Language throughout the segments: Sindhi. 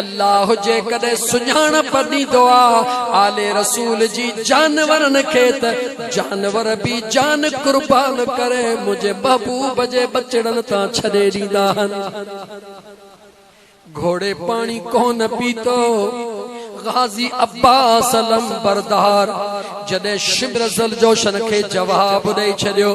الله جيڪڏهن سڃاڻپ ڏيندو آ آل رسول جي جانورن کي ته جانور به جان قربان ڪري منهنجي محبوب جي ٻچڙن تان ڇڏي ڏيندا هن. گهوڙي پاڻي ڪونه پيتو. غازي عباس علمبردار جڏهن شمر ذوالجوشن کي جواب ڏئي ڇڏيو.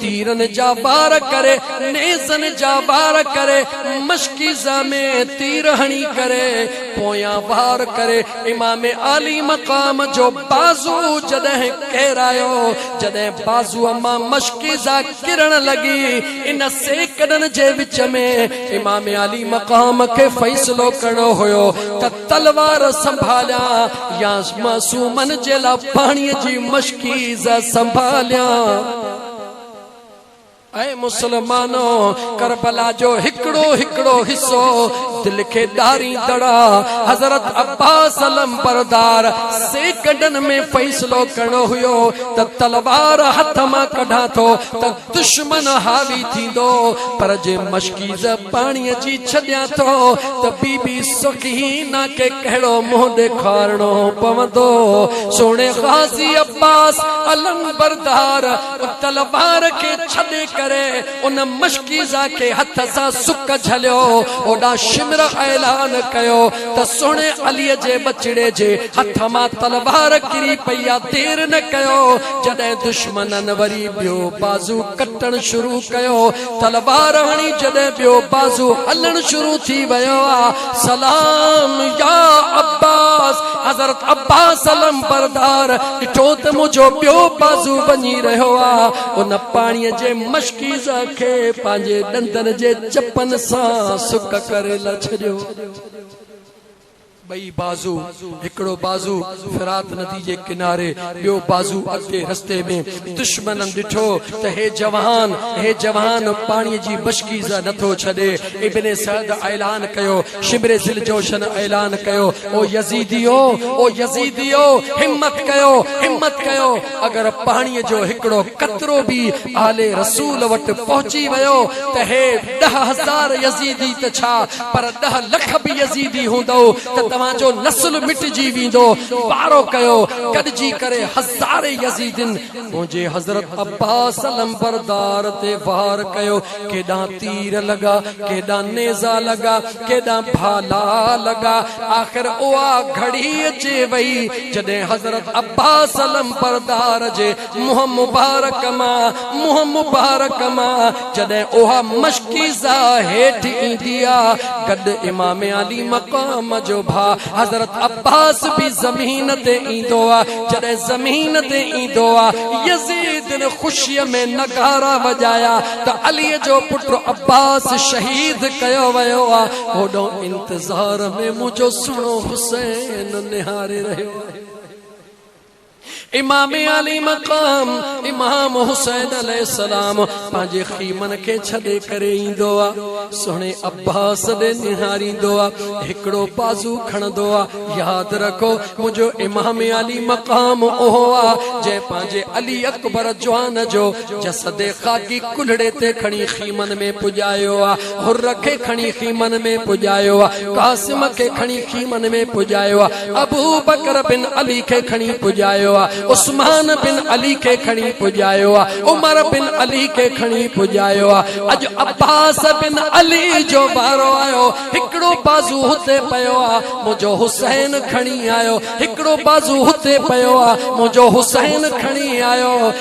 تيرن جا وار ڪري، نيزن جا وار ڪري، مشڪيزه ۾ تير هڻي ڪري، پويان وار ڪري، امام عالي مقام جو بازو جڏهن ڪيرايو، جڏهن بازوء مان مشڪيزه ڪرڻ لڳي، ان سيڪڙن جي وچ ۾ امام عالي مقام کي فيصلو ڪرڻو هيو ته، تلوار سنڀاليان يا معصومن جي لاء پاڻي جي مشڪيز سنڀاليان اي مسلمانو کربلا جو هڪڙو هڪڙو حصو دل کي ڏاري دڙا حضرت عباس علم بردار سيڪنڊن ۾ فيصلو ڪرڻو هيو ته تلوار هٿ مان ڪڍان ٿو ته دشمن حاوي ٿيندو، پر جي مشڪيز پاڻيء جي ڇڏيان ٿو ته بي بي سخينه کي ڪهڙو منهن ڏيکارڻو پوندو. سهڻي غازي عباس علمبردار ان تلوار کي ڇڏي ڪري ان مشڪيزه کي هٿ سان سڪ جهليو. اوڏا شمر اعلان ڪيو ته سهڻي عليء جي ٻچڙي جي هٿ مان تلوار ڪري پئي آ، دير نه ڪيو، جڏهن دشمنن وري ٻيو بازو ڪٽڻ شروع ڪيو. تلوار هڻي جڏهن ٻيو بازو هلڻ شروع ٿي ويو آ. سلام يا عباس! حضرت عباس علمبردار ڏٺو ته منهنجو ٻيو بازو وڃي رهيو آ. ان پاڻي جي مشڪيزه کي پنهنجي ڏندن جي چپن سان سڪ ڪري لا ڇڏيو. ٻئي بازو، هڪڙو بازو فرات ندي جي ڪناري، ٻيو بازو اڳتي رستي ۾. دشمنن ڏٺو ته هي جوان، هي جوان پاڻيء جي مشڪيزه نه ٿو ڇڏي. ابن سعد اعلان ڪيو، شمر ذوالجوشن اعلان ڪيو، او يزيديؤ! او يزيديؤ! همت ڪيو، همت ڪيو، اگر پاڻيء جو هڪڙو قطرو به آل رسول وٽ پهچي ويو ته هي ڏهه هزار يزيدي ته ڇا، پر ڏھ لک به يزيدي ھوندؤ ته توھان جو نسل مٽجي ويندو. وارو ڪيو، گڏجي ڪري ھزارين يزيدين منھنجي حضرت عباس علمبردار تي وار ڪيو. ڪيڏانھن تير لڳا، ڪيڏانھن نيزا لڳا، ڪيڏانھن ڀالا لڳا. آخر اھا گھڙي اچي وئي جڏھن حضرت عباس علمبردار جي منهن مبارڪ مان، منهن مبارڪ مان، جڏهن اها مشڪيزه هيٺ ايندي آ، گڏ امام علي مقام جو ڀاء حضرت عباس به زمين تي ايندو آ، جڏهن زمين تي ايندو آ، يزيدن خوشيء ۾ نغارا وڄايا ته عليء جو پٽ عباس شهيد ڪيو ويو آ، هوڏانهن انتظار ۾ منهنجو سهڻو حسين نهاري رهيو آهي. امام علي مقام امام حسين عليه السلام پنهنجي خيمن کي ڇڏي ڪري ايندو آ سهڻي عباس ڏي نهاريندو آ هڪڙو بازو کڻندو آ ياد رکو منهنجو امام علي مقام اهو آ جنهن پنهنجي علي اڪبر جوان جو جسد خاڪي ڪلهڙي تي کڻي خيمن ۾ پڄايو آ حر کي کڻي خيمن ۾ پڄايو، قاسم کي کڻي خيمن ۾ پڄايو، ابوبڪر بن علي کي کڻي پڄايو، عثمان بن علي کي کڻي پڄايو، عمر بن علي کي کڻي پڄايو، اڄ عباس بن علي جو وارو آيو، هڪڙو بازو هتي پيو آ، منهنجو حسين کڻي آيو، هڪڙو بازو هتي پيو آ، منهنجو حسين کڻي آيو.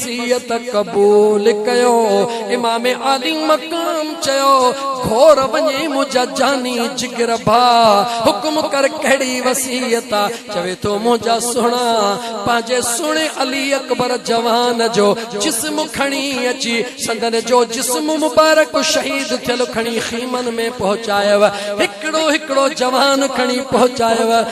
وصيت قبول ڪيو امام عالي مقام چيو گهور وڃي منهنجا جاني جگر ڀا حڪم ڪر ڪهڙي وصيت آ چوي ٿو منهنجا سهڻا پنهنجي سهڻي علي اڪبر جوان جو جسم کڻي اچي سندن جو جسم مبارڪ شهيد ٿيل کڻي خيمن ۾ پهچايو هڪڙو هڪڙو جوان کڻي پهچايو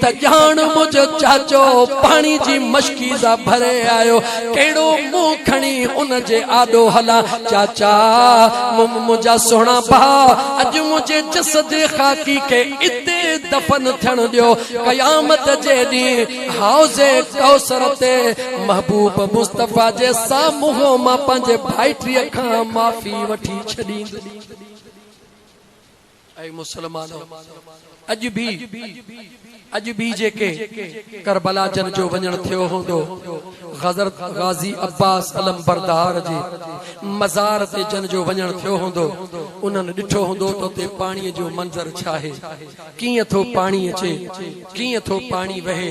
ته ڄاڻ منهنجو چاچو پاڻي جي مشڪيزه ڀري آيو، ڪهڙو منهن کڻي ان جي آڏو هلان؟ چاچا! منهنجا سهڻا ڀاء، اڄ منهنجي جسد خاڪي کي اتي دفن ٿيڻ ڏيو. قيامت جي ڏينهن حوض ڪوثر تي محبوب مصطفيٰ جي سامهون مان پنهنجي ڀائٽيء کان معافي وٺي ڇڏيندس. اي مسلمانو! اڄ به اڄ به جيڪي ڪربلا جن جو وڃڻ ٿيو هوندو، حضرت غازي عباس علمبردار جي مزار تي جن جو وڃڻ ٿيو هوندو، انهن ڏٺو هوندو ته اتي پاڻيء جو منظر ڇاهي، ڪيئن ٿو پاڻي اچي، ڪيئن ٿو پاڻي وهي.